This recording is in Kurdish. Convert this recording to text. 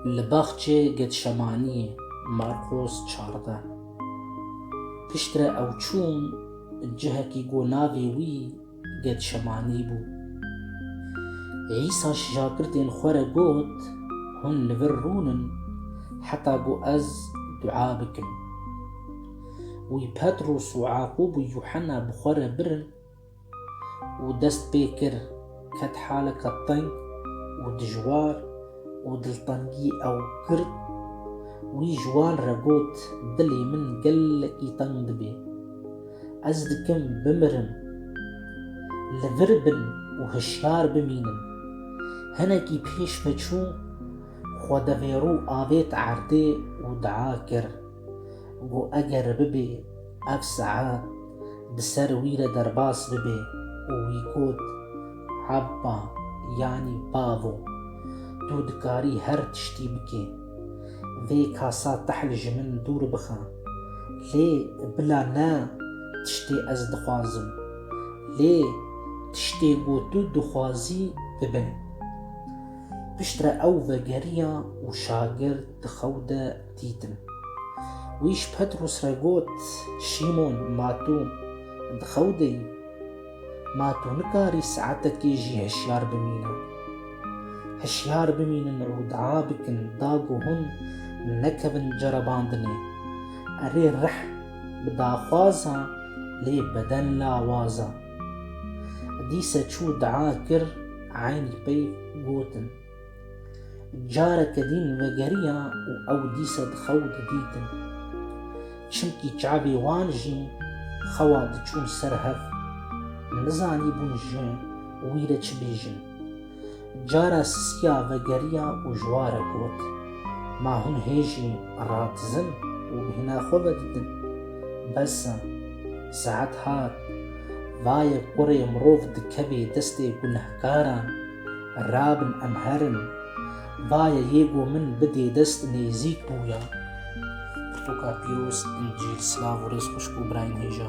Li baxçê Getşemaniyê, Marqos çardeh. Piştre ew çûn cihekî ku navê wî Getşemanî bû. Îsa ji şagirtên xwe re got, Hûn li vir rûnin heta ku ez dua bikim. Wî Petros û Yaqûb û Yuhena bi xwe re birin, û dest pê kir ket haleka teng û dijwar û diltengî ew girt. Wî ji wan re got, Dilê min gelekî teng dibe. Ez dikim bimirim. Li vir bin û hişyar bimînin. Hinekî pêş me çû, xwe devêrû avêt erdê û dua kir, got, Eger bibe Ev saet bi ser wî re derbas bibê û wî got, Abba, yanî bavo, tu dikarî her tiştî bikî. Vê kasa tehl ji min dûr bixe. Lê bila ne tiştê ez dixwazim, lê tiştê ku tu dixwazî bibin. Piştre ew vegeriya û şagird di xew de dîtin. Wî ji Petrûs re got, Şîmon, ma tu di xew de yî? Ma tu nikarî saetekê jî hişyar bimîne? Hişyar bimînin û dua bikin da ku hûn nekevin cerebandinê. Erê rih bi daxwaza lê beden lawaza. Dîse çû dua kir, eynî pey gotin. Careke din vegeriya û ew dîsa di xew de dîtin. Çimkî çavê wan jî xewa diçûn ser hev. Nizanîbûn ji wî re çi bêjin. Cara sisiya vegeriya û ji wa re got, Ma hûn hê jî radizin û bi hîna xwe ve didin. Bes e. Saet hat. Vaye kurê mirov dikeve destê gunehkaran. Rabin em herin. Vaye yê ku min bidê dest nêzîk bûya. Pirtoka pîroz, Încîl, silav û rêz xwişk û birayên hêja.